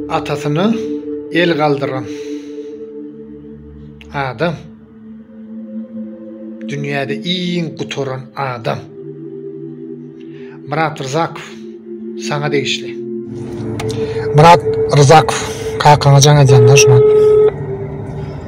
Atasyna el galdyran adam dünýäde iň gutaran adam. Myrat Rzakow saňa degişli. Myrat Rzakow kakaňa jaň edýänler şular.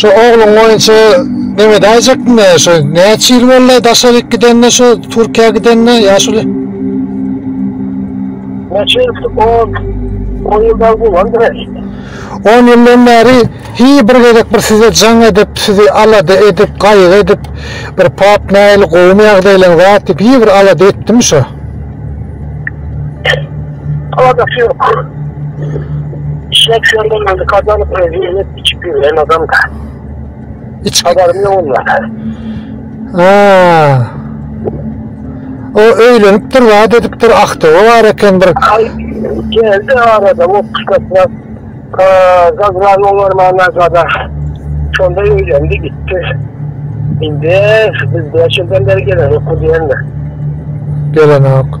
Şu ogluň oýunça Mehmet aýjakmy şu näçe ýyl boldy daşaryk gidende şu Türkiýä gidende ýaşuly? Näçe ýyl on on ýyldan bolandyr. On ýyldan bäri hi bir gezek bir size jaň edip, sizi alada edip, gaýgy edip bir pap nähili gowumy ýagdaýlaryň zat diýip hi bir alada etdimi şu? Aladasy ýok. Şeýtseň bolmady kazanyp içip ýören adam da. Iç habarym ýok ondan. Ha. O öýlenipdir, wada edipdir, ahtawy bar eken bir. Geldi arada o kuşkatla. Zazran olar mana zada. Şonda öýlendi gitdi. Indi biz beş ýyldan beri gelen ýok diýenler. Gelen ýok.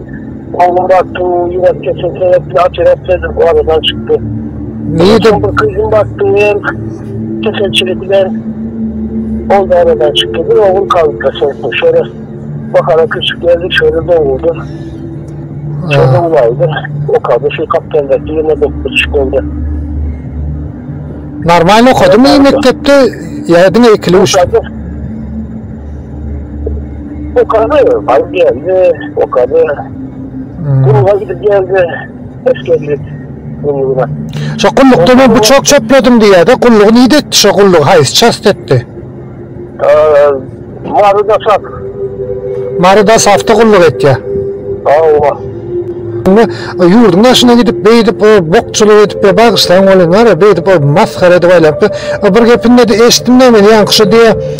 Gowy batdy, ýürek keseli sebäpli operasiýadan we aradan çykdy. Nireden? Bir gyzym batdy, hem keselçilik bilen ol da aradan çykdy. Bir ogul galypdyr soňky, şöyle bahara küçük geldi, şöyle doguldy. Şöyle ulaydı, okadı, şu kaptandaki yine dokuz küçük oldu. Normal okadymy mektepde ýa diňe ikili üçli? Okadı. Okadı, balık geldi, okadı. Gulga gidip geldi, hoş geldik. Gulluğuna. Şo gullukda men bıçak çöpledim diýýär de, gullugy nide etdi şo gulluk, haýsy çast etdi? Ee, Marı da sat. Mary da safta gulluk etýär. Ava. Indi e, ýurduň daşyna gidip, beýdip, o bokçulyk edip, ya bagyşlaň bolýan bar ya, beýdip, o masgara edip aýlap, e, bir gepinde de eşitdim-de men, ýaňky şu diýe,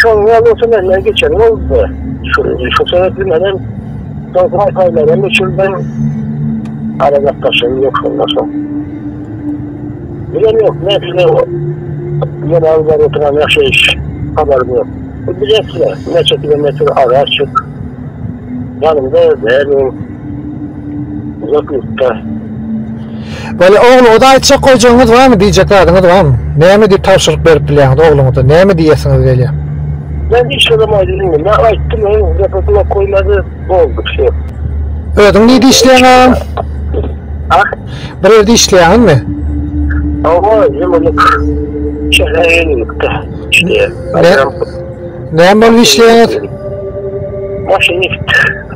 Şol ýaly bolsa menden geçen boldy. Şol sebäpli menem soň paý-paýlaram öçürdim. Aragatnaşygym ýok şondan soň. Bilemok, nähili ýene alyp baryp oturan ýaşaýyş, habarym ýok. Bilýäs-le, näçe kilometr ara açyk. Ýanymda däl ol. Uzak ýurtda. Bolýa ogly oda aýtjak goýjagyňyz barmy diýjek zadyňyz barmy? Näme diýip tabşyryk berip bilýäňiz ogluňyza näme diýesiňiz gelýä? Men hiç zat aýdyp bilmedim. Men aýtdym öň zat gulak goýmady boldy şu. Özüň nide işleýäň agam? A? Bir ýerde işleýäňizmi? Awa ýylylyk. Şeýle ýylylyk-da işleýän. Näme bolup işleýäňiz? Maşynist.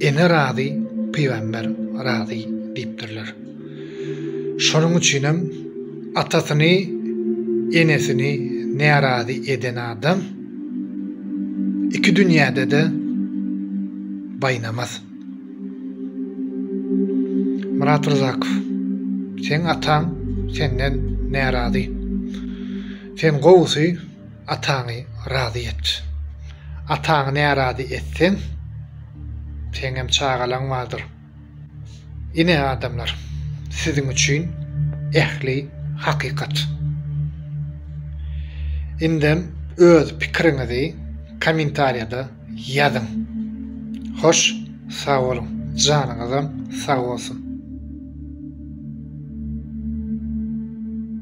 Ene razy, pygamber razy diýipdirler. Şonuň üçinem atasyny, enesini närazy eden adam iki dünýäde-de baýnamaz. Myrat Ryzakow, seň ataň senden närazy. Sen gowusy. Ataňy razy et. Ataňy närazy etseň, seňem çagalaň bardyr. Ine, adamlar, siziň üçin ähli hakykat. Indem öz pikiriňizi kommentariýada ýazyň. Hoş sag boluň, janyňyzam sag bolsun.